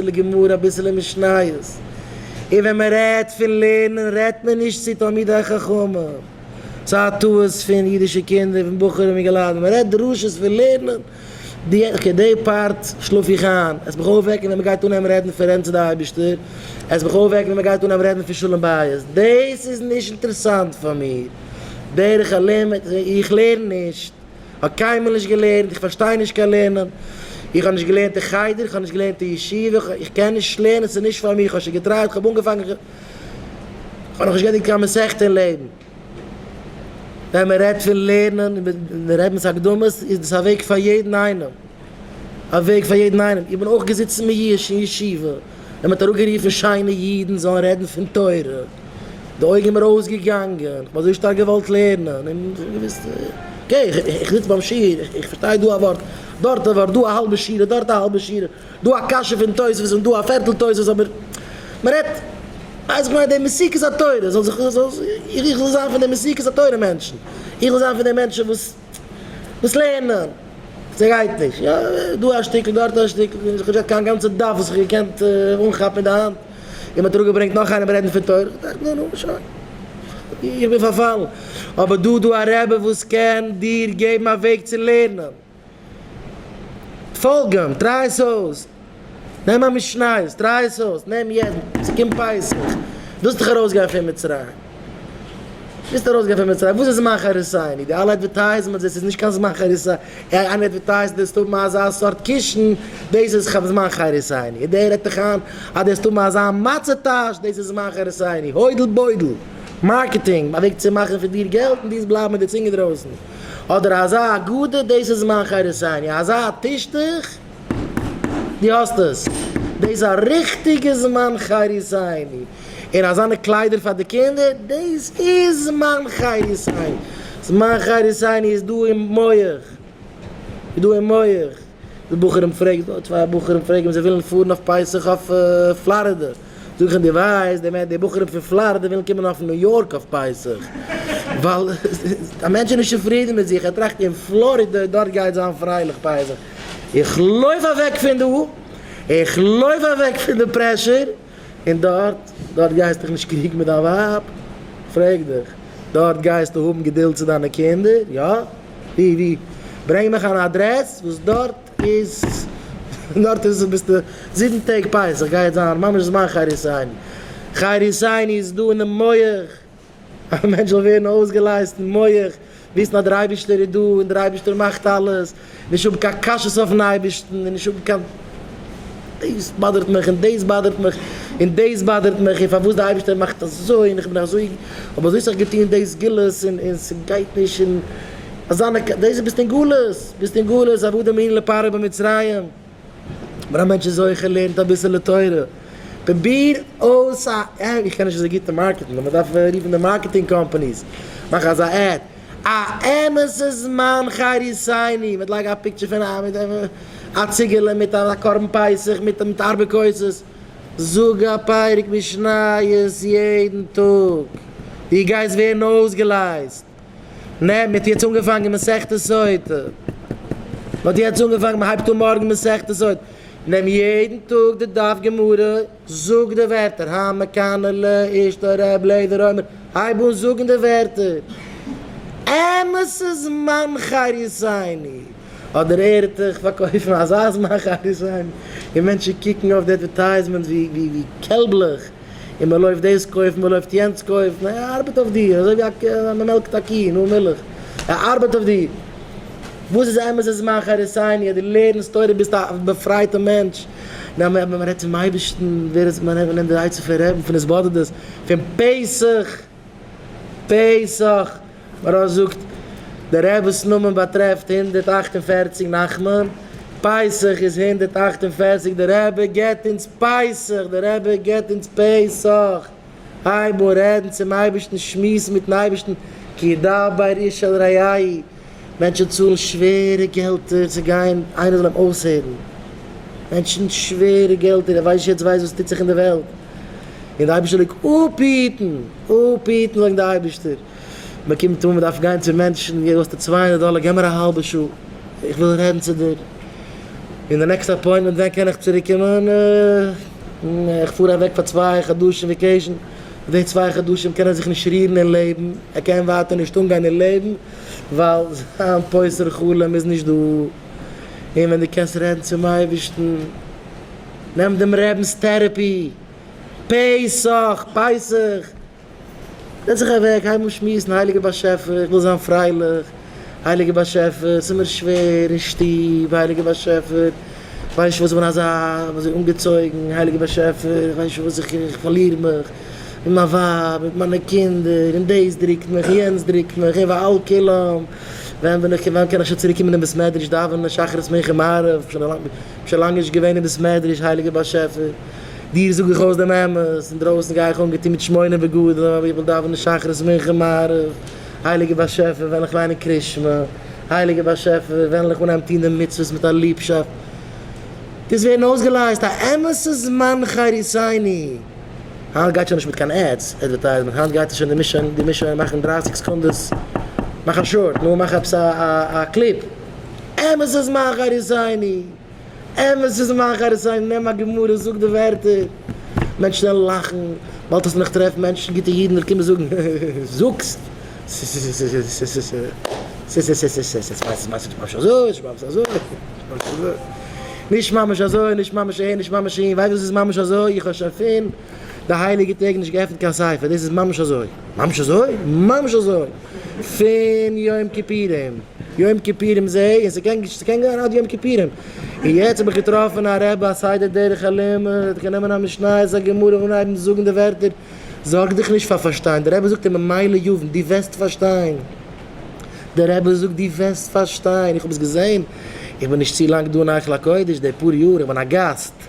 אביסעלע גמרא אביסעלע משניות, און ווען מען רעדט פון לערנען רעדט מען נישט צו תלמידי חכמים, ס'איז א טעות פון אידישע קינדער פון בחורים און געלייט, מען רעדט דרשות פון לערנען, די אוקיי די פארט שלאף איך איין, עס מיך אויפוועקן ווען מען גייט אנהייבן רעדן פון רעדן צו די אייבישטער, עס מיך אויפוועקן ווען מען גייט אנהייבן רעדן פון שלום בית, דאס איז נישט אינטערעסאנט פאר מיר, דרך הלימוד, איך לערן נישט. כ'האב קיינמאל נישט געלערנט, איך פארשטיי נישט קיין לערנען, איך האב נישט געלערנט אין חדר, איך האב נישט געלערנט אין ישיבה, איך קען נישט לערנען, ס'איז נישט פאר מיר, כ'האב שוין געטרייט, כ'האב אנגעפאנגען, כ'האב נאך נישט געענדיגט קיין מסכת אין לעבן. ווען מ'רעדט פון לערנען, און מ'רעדט מיט הקדמות, איז דאס א וועג פאר יעדן איינעם. א וועג פאר יעדן איינעם, איך בין אויך געזיצן מיואש אין ישיבה און מ'האט אראפגערופן שיינע אידן זאלן רעדן פון תורה, די אויג איז מיר אויסגעגאנגען, כ'האב אזוי שטארק געוואלט לערנען און איך האב געוואוסט אקעי איך זיץ ביים שיעור, איך פארשטיי דא א ווארט, דארט א ווארט, דא א האלבע שורה, דארט א האלבע שורה, דא א קשיא פון תוספות און דא א פערטל תוספות אבער מ'רעדט ווייס איך ניי די מסירות התורה זאל זיך איך זאל זיין פון די מסירות התורה מענטשן, איך זאל זיין פון די מענטשן וואס. וואס לערנען? ס'גייט נישט. יא, דא א שטיקל דארט א שטיקל, און איך האב נישט געהאט קיין גאנצע דף וואס איך האב געקענט אנכאפן אין די האנט, און מ'האט אראפגעברענגט נאך איינעם רעדן פון תורה, כ'דאכט נו נו שוין, איך בין פארפאלן. אבער דא איז דא א רבי וואס קען דיר געבן א וועג צו לערנען. פאלג אים, טריי עס אויס. נעם א משניות, טריי עס אויס, נעם יעדן, עס קומט פסח, ווילסט דאך ארויס גיין פון מצרים, ווילסט ארויס גיין פון מצרים, וואס איז זמן חריתנו, די אלע אדווערטייזמענטס, דאס איז נישט קיין זמן חריתנו, איינער אדווערטייזט דארפסט האבן אזא סארט קישן, דאס איז זמן חריתנו, און דער רעדט דיך איין אז דארפסט האבן אזא מצה טאש, דאס איז זמן חריתנו, הוידל בוידל, מארקעטינג, א וועג צו מאכן פון דיר געלט און דאס בלייבן מיט די צונג אינדרויסן, אדער אזא הגדה, דאס איז זמן חריתנו, אזא טישטוך. דו האסט עס! דאס א ריכטיגע זמן חירות העיני, און אזאנע קליידער פאר די קינדער, דאס איז זמן חירות העיני! זמן חירות העיני איז דא אין מח, איז דא אין מח! די בחורים פרעגסט דא צוויי בחורים פרעגן אויב זיי ווילן פארן אויף פסח אויף פלארידע, זאג איך אים דו ווייסט באמת די בחורים פון פלארידע ווילן קומען אויף ניו יארק אויף פסח? ווייל א מענטש איז נישט צופרידן מיט זיך, ער טראכט אין פלארידע דארט גייט זיין פרייליך פסח. איך לויף אוועק פון דא, איך לויף אוועק פון די פרעשור, און דארט, דארט גייסטוך נישט קריגן מיט דיין ווייב, פרעג דיך, דארט גייסטו האבן געדולד צו דיינע קינדער, יא? ווי? ווי? ברענג מיך אן אדרעס וואס דארט איז, דארט איז ביסטו זיבן טעג פסח גייט זיין ממש זמן חי ריסיינען, חי ריסיינען איז דא אינעם מח. א מענטש זאל ווערן אויסגעלייזט אין מח, וויסן אז דער אייבערשטער איז דא און דער אייבערשטער מאכט אלעס, נישט האבן קיין קשיות אויפן אייבערשטן און נישט האבן קיין דאס באדערט מיך און דאס באדערט מיך און דאס באדערט מיך און פארוואס דער אייבערשטער מאכט אזוי און איך בין אזוי האב אזוי סאך געטון דאס גלות און און ס'גייט נישט און אזאנע דאס איז ביסט אין גלות ביסט אין גלות עבדים היינו לפרעה במצרים. ווען א מענטש איז זוכה לערנט אביסעלע תורה, פרוביר אויס א עד, איך קען נישט אזוי גוט אין מארקעטן, מען דארף רופן די מארקעטינג קאמפאניס, מאך אזא עד, א אמת'ע זמן חיי רציני, מיט לייג א פיקטשער פון א מיט א ציגעלע מיט א קרבן פסח מיט מיט ארבע כוסות, זאג א פרק משניות יעדן טאג, דו גייסט ווערן אויסגעלייזט. נע, מען האט יעצט אנגעפאנגען מסכת סוטה. מען האט יעצט אנגעפאנגען, מען הייבט אן מארגן מסכת סוטה. נעם יעדן טאג די דף גמרא, זאג די ווערטער, המה קנה ל אשתו ר' לעזער אומר, הייב אן זאגן די ווערטער. אמת ס'איז זמן חריסני, אדער ער'טעך פארקויפן אזא זמן חריסני, און מענטשן קוקן אויף די עדווערטייזמענטס ווי קעלבלעך. און מען לויפט דאס קויפן מען לויפט יענץ קויפן, ער ארבעט אויף דיר אזוי ווי א ק א מען מעלקט א קי נאר מילך, ער ארבעט אויף דיר, וואס איז אמת איז זמן חרותינו, דו לערנסט תורה ביסט א באפרייטע מענטש, נאר ווען מען רעדט צום אייבערשטן ווער איז מען נעמט די עצה פון רעבן פון עס באדערט דאס פון פסח. פסח, מרן זאגט, דער רב'ס נאמען באטרעפט הונדערט אַכט און פֿערציק נחמן, פסח איז הונדערט אַכט און פֿערציק דער רבי געבט אונז פסח, דער רבי געבט אונז פסח, הייב אן רעדן צום אייבערשטן, שמועס מיטן אייבערשטן, כי דבר איש אל רעהו. מענטשן צאלן שווערע געלטער צו גיין איינער זאל אים אויסהערן, מענטשן שווערע געלטער, ער ווייסט נישט יעצט ווייסט וואס טוט זיך אין די וועלט, און די אייבערשטער זאל אפהיטן, אפהיטן זאגט די אייבערשטער, מען קומט אן מען דארף גיין צו מענטשן, ווי אזוי האסטו צוויי הונדערט דאלער געב מיר א האלבע שעה איך וויל רעדן צו דיר, און די נעקסטע אפוינטמענט ווען קען איך צוריק קומען, איך פאר אוועק פאר צוויי חדשים וועקעישן. מיט די צוויי חדשים קען ער זיך נישט רירן אין לעבן, ער קען ווייטער נישט אנגיין אין לעבן ווייל זיין פוסר חלום איז נישט דא, און ווען דו קענסט רעדן צום אייבערשטן נעם דעם רעבנס טערעפי, פסח, פייסעך, זעץ זיך אוועק הייב אן שמועסן, הייליגער באשעפער איך וויל זיין פרייליך, הייליגער באשעפער, עס איז מיר שווער אין שטוב, הייליגער באשעפער, איך ווייס נישט וואס איך בין אזא אזוי אנגעצויגן, הייליגער באשעפער, איך ווייס נישט וואס איך, איך פארליר מיך מיט מיין ווייב, מיט מיינע קינדער, און דאס דרוקט מיך, און יענץ דרוקט מיך, און ועל כולם, ווען בין איך, ווען קען איך שוין צוריק קומען אין בית מדרש דאווענען שחרית מנחה מעריב, איך בין שוין לאנג נישט געווען אין בית מדרש, הייליגער באשעפער, דיר זאג איך אויס דעם אמת, אינדרויסן גיי איך אנגעטון מיט שמונה בגדים, אבער איך וויל דאווענען שחרית מנחה מעריב. הייליגער באשעפער וועל איך ליינען קרית שמע, הייליגער באשעפער וועלן איך אנהייבן טון די מצוות מיט א ליבשאפט, דאס ווערן אויסגעלייזט א אמת'ע זמן חריתינו, היינט גייט שוין נישט מיט קיין עדס, עדווערטייזמענט, היינט גייט עס שוין די מישען די מישען מאכן דרײַסיק סעקונדעס, מאך א שארט, נו מאך עפעס א קליפ, אמת'ע זמן חריתינו. אמת איז מאחורי סייג נעם א גמרא זאג די ווערטער מענטשן וועלן לאכן באלד וועסטו נאך טרעפן מענטשן גוטע אידן וועלן קומען זאגן זאגסט נישט ממש אזוי נישט ממש אהין נישט ממש אהין ווייסט וואס איז ממש אזוי איך האב שוין פין די הייליגע טעג נישט געעפנט קיין ספר דאס איז ממש אזוי ממש אזוי ממש אזוי. פון יום כיפורים, יום כיפורים זעה און ס'קען ס'קען גיין עד יום כיפורים, און יעצט האב איך געטראפן א רבי א סדר דרך הלימוד, ער קען נעמען א משניות א גמרא אנהייבן זאגן די ווערטער, זארג דיך נישט פאר פארשטיין, די רבי זאגט אים ממילא יבין, דו וועסט פארשטיין, די רבי זאגט דו וועסט פארשטיין, איך האב עס געזעהן, איך בין נישט צו לאנג דא אין היכל הקודש, די פאר יאר, איך בין א גאסט.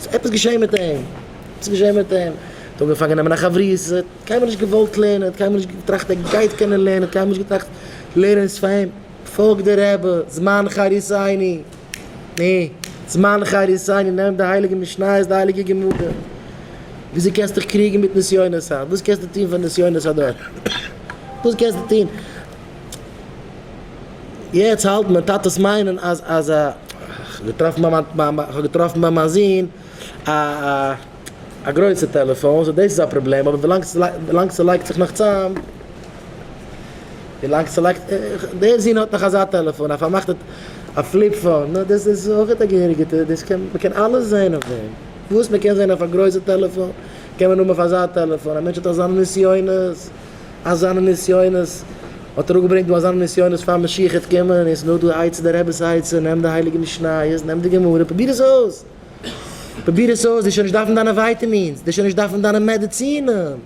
ס'איז עפעס געשעהן מיט אים, עפעס געשעהן מיט אים, ער'ט אנגעפאנגען נעמען א חברותא, ער'ט קיינמאל נישט געוואלט לערנען, ער'ט קיינמאל נישט געטראכט ער גייט קענען לערנען, ער'ט קיינמאל נישט געטראכט לערנען איז פאר אים, פאלג די רבי, זמן חריתינו, נע, זמן חריתינו, נעם די הייליגע משניות, די הייליגע גמרא, וויאזוי קענסטו דיך קריגן מיט נסיונות היינט, וואס קענסטו טון פאר נסיונות הדור, וואס קענסטו טון. יעצט האלטן מיין טאטעס מיינען אז אז א געטראפן ביי מיין ביי מיין כ'האב געטראפן ביי מיין זון א א א גרויסע טעלעפאון סאו דאס איז א פראבלעם אבער ווילאנג ווילאנג ס'לייגט זיך נאך צאם ווילאנג ס'לייגט דער זון האט נאך אזא טעלעפאון א פארמאכטע א פליפ פאון נא דאס איז אויך א געהעריגע דאס קען מ'קען אלעס זעהן אויף דעם וואס מ'קען זעהן אויף א גרויסע טעלעפאון קען מען האבן אויף אזא טעלעפאון א מענטש האט אזאנע נסיונות. אזאנע נסיונות, האט ער אפגעברענגט דא אזאנע נסיונות פאר משיח'ער צו קומען, און עס איז נאר דא די עצה, די רב'ס עצה, נעם די הייליגע משניות, נעם די גמרא, פרוביר עס אויס, פרוביר עס אויס, די שוין נישט דארפן דיינע ווייטעמינס, די שוין נישט דארפן דיינע מעדעצינען,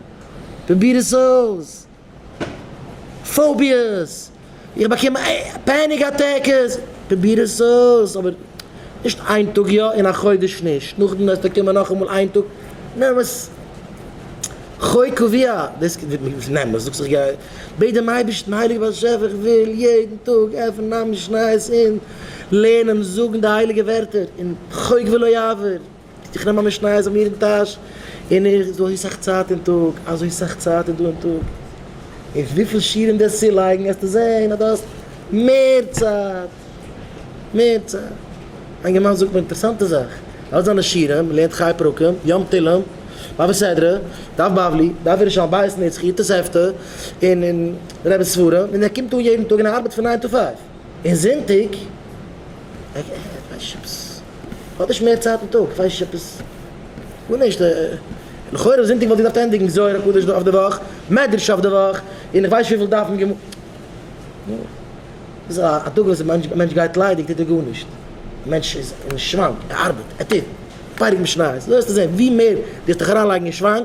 פרוביר עס אויס, פאוביעס. איך באקום פעניק אטעקעס, פרוביר עס אויס אבער נישט איין טאג יא און א חודש נישט, נאכדעם וועסטו קומען נאכאמאל איין טאג נעם עס חי' קביע, נעם עס זאגסט איך גיי, בעט דעם אייבערשטן הייליגער באשעפער איך וויל יעדן טאג עפענען א משניות און לערנען און זאגן די הייליגע ווערטער און חוק ולא יעבור. איך נעם א משניות זיך מיר אין טאש, און איך אזוי סאך צייט אין טאג, אזוי סאך צייט איז דא אין טאג, און וויפיל שיעורים דו העסט צולייגן העסטו זען אז דו האסט מער צייט, מער צייט. איין געמיינדע זאגט מיר אינטערעסאנטע זאך, אלע זיינע שיעורים, לערנט חיי פרקים, יום תהילים, בבא סדרא, דף בבלי, דף ירושלמי, בית נצחי, תוספתא, און און רב'ס ספרים, און ער קומט אן יעדן טאג און ער ארבעט פון ניין טו פייוו, און זונטאג, האט נישט מער צייט אין טאג? כ'ווייס נישט עפעס גארנישט לכאורה זונטאג וואלט איך געדארפט ענדיגן זוהר הקדוש אויף די וואך, מדרש אויף די וואך, און איך ווייס נישט וויפיל דפים גמ'. נו, דאס איז א טאג וואס א מענטש גייט ליידיג טוט ער גארנישט, א מענטש איז אין שוואנג, ער ארבעט, ער טוט, פאריגן משניות, דא וועסטו זען ווי מער דו וועסט דיך אריינלייגן אין שוואנג,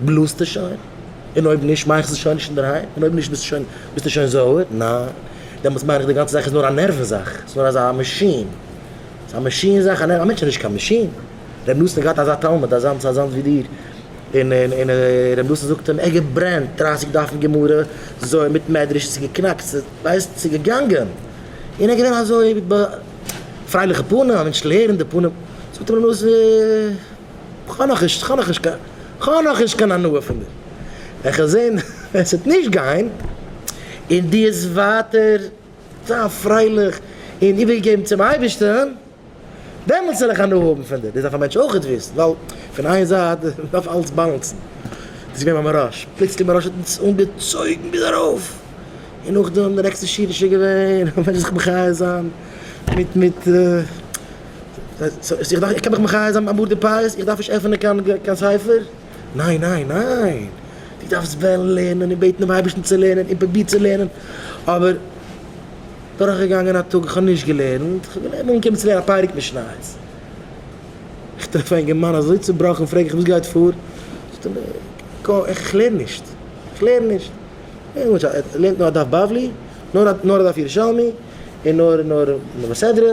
בלאזטו שוין? און אויב נישט, מיינסטו שוין נישט אינדערהיים? און אויב נישט, ביסטו שוין, ביסטו שוין זויער? ניין? דעמאלטס מיין איך די גאנצע זאך איז נאר א נערוון זאך, ס'איז נאר אזא מאשין, ס'איז א מאשין זאך, א נערוון, א מענטש איז נישט קיין מאשין. ר' נתן האט געהאט אזא תלמיד, אזאנס, אזאנס ווי דיר, און, און, און ר' נתן זאגט אים, ער געברענט דרייסיג דפים גמרא, זוהר מיט מדרש, ס'איז געקנאקט, ס'איז, ווייסט, ס'איז געגאנגען, און ער איז געווען אזוי מיט ב. פרייליכע פנים, א מענטשל הערן די פנים, זאגט אים ר' נתן. כ'האב נאך נישט, כ'האב נאך נישט קיין, כ'האב נאך נישט קיין הנאה פון דיר. וועל איך זען ווען ס'וועט נישט גיין, און דו וועסט ווייטער זיין פרייליך און איבערגעגעבן צום אייבערשטן, דעמאלטס וועל איך הנאה האבן פון דיר. דאס דארף א מענטש אויך וויסן, ווייל פון איין זייט דארף אלעס באלאנסן. דאס איז געווען מיין מרש, פלוצלינג מיין מרש האט אונז אנגעצויגן ביז ארויף, און נאכדעם די נעקסטע שיעור איז שוין געווען, א מענטש זיך מחיה זיין מיט מיט. איך דארף, איך קען דאך מחי' זיין אמאל די פייערס, איך דארף נישט עפענען קיין ספר? ניין ניין ניין! דו דארפסט וועלן לערנען און בעטן דעם אייבערשטן צו לערנען און פרובירט צו לערנען, אבער דורכגעגאנגען א טאג, איך האב נישט געלערנט, איך האב געלערנט נאר אנגעקומען צו לערנען א פרק משניות, איך טרעף א אינגערמאן אזוי צובראכן, פרעג איך וואס גייט פאר? זאגט ער מיר, קאו, איך לערן נישט, איך לערן נישט, ער לערנט נאר א דף בבלי, נאר א דף ירושלמי, און נאר נאר מס' סדרה.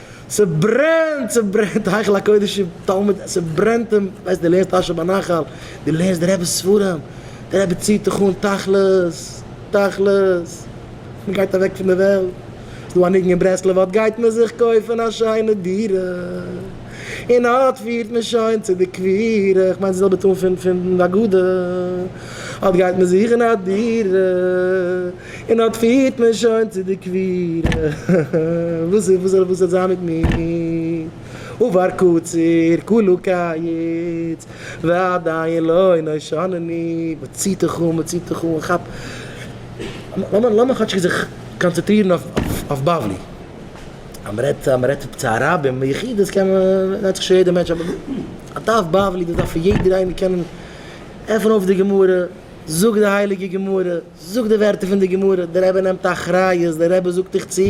ס'ברענט! ס'ברענט! היכל הקודש תלמיד, ס'ברענט אים! ווייסט, דו לערנסט אשר בנחל, דו לערנסט די רעבע'ס ספרים, די רעבע ציט דיך אן, תכלית! תכלית! מ'גייט אוועק פון די וועלט, ס'דא א ניגון אין ברסלב, אט גייט מען זיך קויפן א שיינע דירה, און אט פירט מען שוין צו די קבורה, כ'מיין די זעלבע טאן פון די הגדה, אט גייט מען זוכן א דירה, און אָט פֿירט מען שױן צו דער קבֿורה. װאָס איז? װאָס װאָס זאָל זײַן מיט מיר? אָבער קציר כּולו קײץ, ועדיין לא הנה שָנני. מען ציט דיך אָן, מען ציט דיך אָן, כאַפּ! לאָמיר, לאָמיר כאָטש זיך קאָנצעטרירן אױף, אױף בבֿלי. אַז מען רעדט, אַז מען רעדט צו אַ רב אין יחידות, קען מען, דאַכט זיך שױן יעדער מענטש, אָבער אָט אױף בבֿלי, דאָ דאַרף יעדער אײנער קענען עפֿענען אױף די גמרא, זאָגן די הײליקע גמרא. זאג די ווערטער פון די גמרא, די רבי נעמט אחריות, די רבי זאגט דיך צו,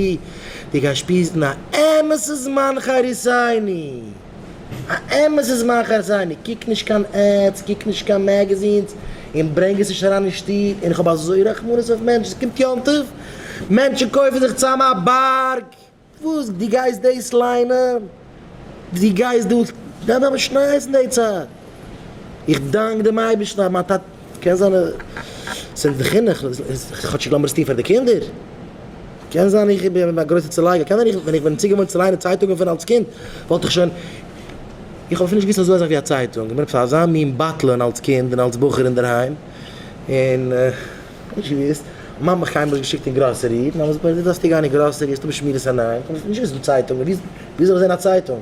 דו גייסט שפיזן א אמת'ע זמן חריתינו, א אמת'ע זמן חריתינו, קוק נישט קיין עדס, קוק נישט קיין מעגעזינס, און ברענג עס נישט אריין אין שטוב, און איך האב אזוי רחמנות אויף מענטשן, ס'קומט יום טוב, מענטשן קויפן זיך צאם א בארג, וואס? דו גייסט דאס ליינען? דו גייסט דאס ווען וועלן מיר שמעיסן די צייט? איך דאנק דעם אייבערשטן אז מיין טאטע קען זיין ס'איז די חינוך כאטשיג לאמיר עס טון פאר די קינדער קען זיין איך בין א גרויסע צולייגער קען זיין איך ווען איך בין צוגעוואוינט צו ליינען צייטונגען פון אלס קינד וואלט איך שוין איך האב אפילו נישט געוואוסט אזוי אזאך ווי א צייטונג איך בין עפעס אזא מין בטלן אלס קינד און אלס בחור אינדערהיים און. נישט געוואוסט, מאמע חיים האט געשיקט אין גראסערי, מאמע זאגט מיר דו דארפסט נישט גיין אין גראסערי, עס איז דא בשמירת עיניים, קענסט נישט ליזן צייטונג, וויאזוי זאל איך זען א צייטונג?